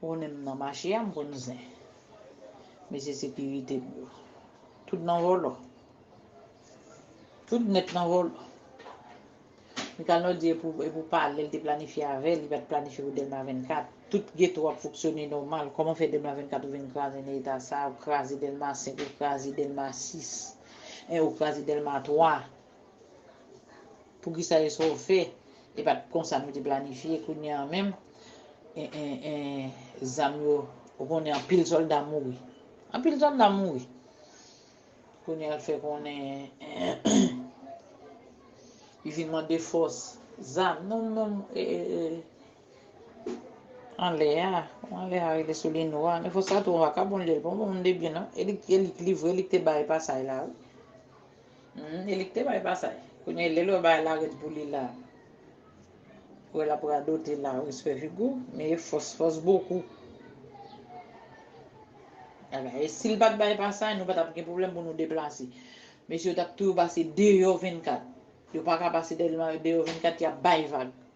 Konnen m nan mache a m konn zen. Mesye sekirite m yo. Tout nan vòlò. Tout nèt nan vòlò. Mikalnò di e pou pale l te planifye avè l, li pa t planifye pou Dèlma 24. Tout geto ap foksyone nòmal, kòman fè Dèlma 24 ou vin kraze nan eta sa a, ou kraze Dèlma 5, ou kraze Dèlma 6, ou kraze Dèlma 3. Poukisa yo so fè e pat konsa nou te planifye kounye an menm zam yo ou konnen anpil solda mouri anpil solda mouri kounye al fè konnen li vin mande fòs zam non non anlè a anlè a rele sou li nou a men fòs sa tou vakabon li l bon moun de byen non e li k livre li k te bay pasay la wi Hum elik te bay pasaj. Kounye lel wè bagay la red pou li la. Wè lap radote la respè Vigo men e fòs fòs bokou. Ala e sil pat bay pasaj nou patap gen pwoblèm pou nou deplase. Mesye yo tap toujou pase deyò 24. Yo paka pase Delma deyò 24 yap bay vag.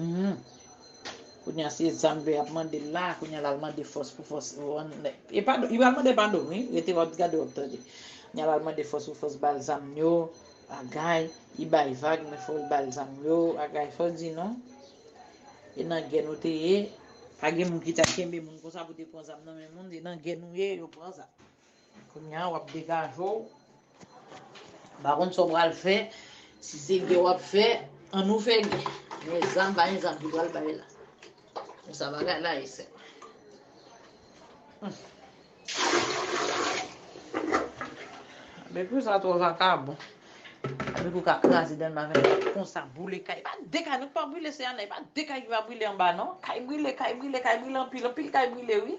Uhmm kounya se zam vè yap mandel la kounya lal mande fòs pou fòs e pa li pral mande padon wi rete wap gade wap tande kounya lal mande fòs pou fòs bal zam yo agay li bay vag men fòl bal zam yo agay fòl di non e nan gè nou te ye pa gen moun ki ta kenbe moun konsa pou te pran zam nan men moun e nan gè nou ye yo pran zam. Kounya wap degaje w. M pa konn sa w pral fè. Si se gè wap fè, an nou fè gè. Men zam pa gen zam ki pral bay la. Men sa bagay la ye sè mwen. Bpou sa twò vakabon. Bpou ka kraze dan nan vènèt la konsa boule kay. E pa de kay nou k pa boule sè a nan. E pa de kay ki pa boule anba non. Kay boule, kay boule, kay boule anpil. Anpil kay boule wi.